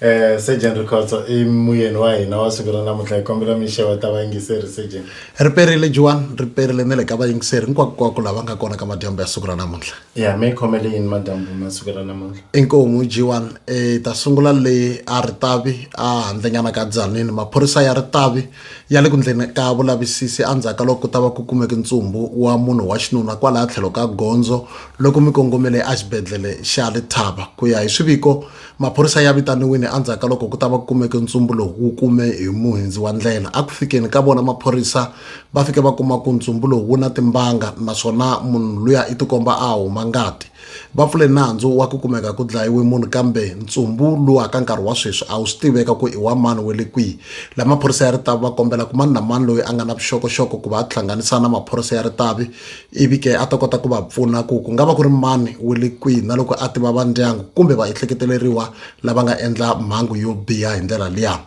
Eh, Sergeant Rikhotso i muyeni wa hina wa siku ra namuntlha hi kombela mi xewa ta vayingiseri Sergeant. ri perile juwan ri perile ni le ka vayingiseri hinkwakunkwaku lava nga kona ka madyambu ya siku ra namuntlha Ya mi khomele yini madyambu ma siku ra namuntlha? inkomu jiwan e ta sungula le a ritavi a handlenyana ka dzanini maphorisa ya ritavi ya le ku ndleni ka vulavisisi endzhaku ka loko ku ta va ku kumeke ntsumbu wa munhu wa xinuna kwalaya tlhelo ka gondzo loko mi kongomele exibedhlele xa lethaba ku ya hi swiviko Maphorisa ya vitaniwile endzhaku ka loko ku ta va ku kumeke ntsumbu lowu wu kume hi muhindzi wa ndlela. A ku fikeni ka vona maphorisa va fike va kuma ku ntsumbu lowu wu na timbanga naswona munhu luya i tikomba a huma ngati. Va pfule nandzu wa ku kumeka ku dlayiwe munhu kambe ntsumbu luwa ka nkarhi wa sweswi a wu swi tiveka ku i wa mani we le kwihi. La maphorisa ya Ritavi va kombela ku mani na mani loyi a nga na vuxokoxoko ku va a tihlanganisa na maphorisa ya Ritavi ivi ke a ta kota ku va pfuna ku ku nga va ku ri mani wu le kwihi na loko a tiva va ndyangu kumbe va ehleketeleriwa lava nga endla mhangu yo biha hi ndlela liya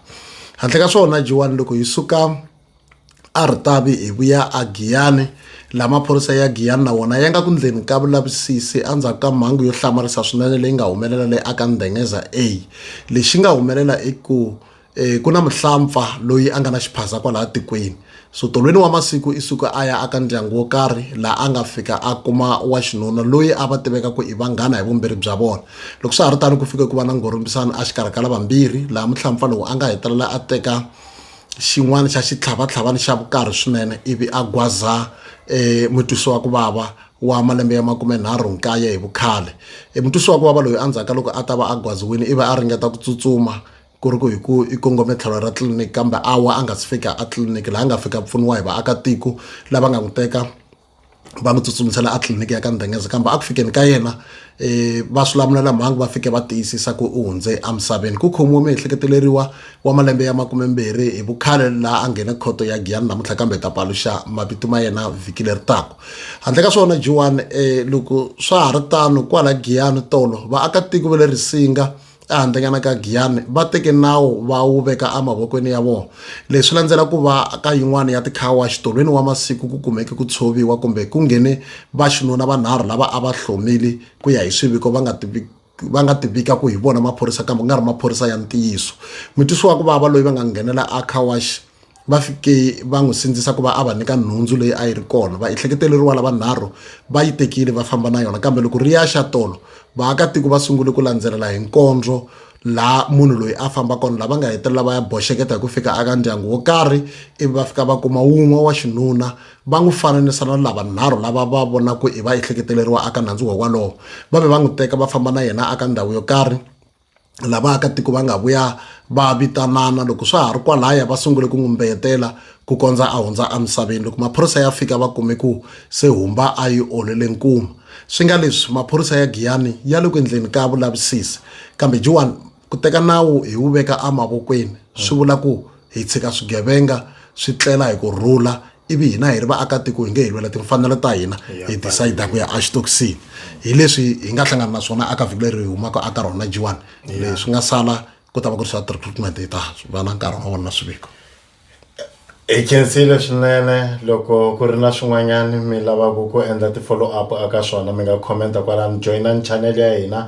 handle ka swona jiwani loko hi suka a ri tavi hi vuya a giyani la maphorisa ya giyani na wona ya nga ku ndleni ka vulavisisi endzhaku ka mhangu yo hlamarisa swinene leyi nga humelela le aka ndengeza a lexi nga humelela i ku um ku na muhlampfa loyi a nga na xiphaza kwalaya tikweni so tolweni wa masiku i suka a ya aka ndyangu wo karhi laha a nga fika a kuma wa xinuna loyi a va tiveka ku i vanghana hi vumbirhi bya vona loko swa ha ri tano ku fike ku va na ngorhombisano a xikarhi ka lavambirhi laha muhlampfa lowu a nga hetelela a teka xin'wana xa xitlhavatlhavana xa vukarhi swinene ivi a gwaza um mutwisi wa ku vava wa malembe ya makume nharhu nkaye hi vukhale e mutwisi wa ku vava loyi endzhaku ka loko a ta va a gwaziwile i va a ringeta ku tsutsuma ku ri ku hi ku i kongome tlhelo ra tliliniki kambe a wa a nga si fika a tliliniki laha a nga fika pfuniwa hi vaakatiko lava nga n'wi teka va n'wi tsutsumisela a tliliniki ya ka ndengeza kambe a ku fikeni ka yena um va swivulamulelamhangu va fike va tiyisisa ku u hundze emisaveni ku khomiwe miehleketeleriwa wa malembe ya makumembirhi hi vukhale laha a nghene khoto ya giyani namuntlha kambe hi ta paluxa mavito ma yena vhiki leri taka handle ka swona jiwani um loko swa ha ri tano kwala giyani tolo vaakatiko va le risinga ehandlenyana ka giyani va teke nawu va wu veka emavokweni ya vona leswi swi landzela ku va ka yin'wana ya tikhawa xitolweni wa masiku ku kumeke ku tshoviwa kumbe ku nghene vaxinuna vanharhu lava a va hlomile ku ya hi swiviko va nga tivi va nga tivika ku hi vona maphorisa kambe ku nga ri maphorisa ya ntiyiso mutwisi wa ku vava loyi va nga nghenela a car wash va fike va n'wi sindzisa ku va a va nyika nhundzu leyi a yi ri kona va ehleketeleriwa lavanharhu va yi tekile va famba na yona kambe loko ri ya xa tolo vaakatiko va sungule ku landzelela hi nkondzo laha munhu loyi a famba kona lava nga hetelela va ya boxeketa hi ku fika aka ndyangu wo karhi ivi va fika va kuma wun'we wa xinuna va n'wi fananisa na lavanharhu lava va vonaku i va ehleketeleriwa aka nandzu wa walowo va ve va n'wi teka va famba na yena aka ndhawu yo karhi la vaakatiko va nga vuya va vitanana loko swa ha ri kwalaya va sungule ku ngumbeyetela ku kondza a hundza emisaveni loko maphorisa ya fika va kume ku se humba a yi olele nkuma swi nga leswi maphorisa ya giyani ya le ku endleni ka vulavisisi kambe joan ku teka nawu hi wu veka emavokweni swi vula ku hi tshika swigevenga swi tlela hi ku rhula ivi hina hi ri vaakatiko hi nge hi lwela timfanelo ta hina hi decide ku ya axitoxini hi leswi hi nga hlangana na swona aka vhiki leri hi humaka aka rona jiwani leswi nga sala ku ta va ku ri swa treatment hi ta va na nkarhi wa vona na swiviko hi khensile swinene loko ku ri na swin'wanyana mi lavaka ku endla ti-follow up aka swona mi nga commenta kwalani joyinani channel ya hina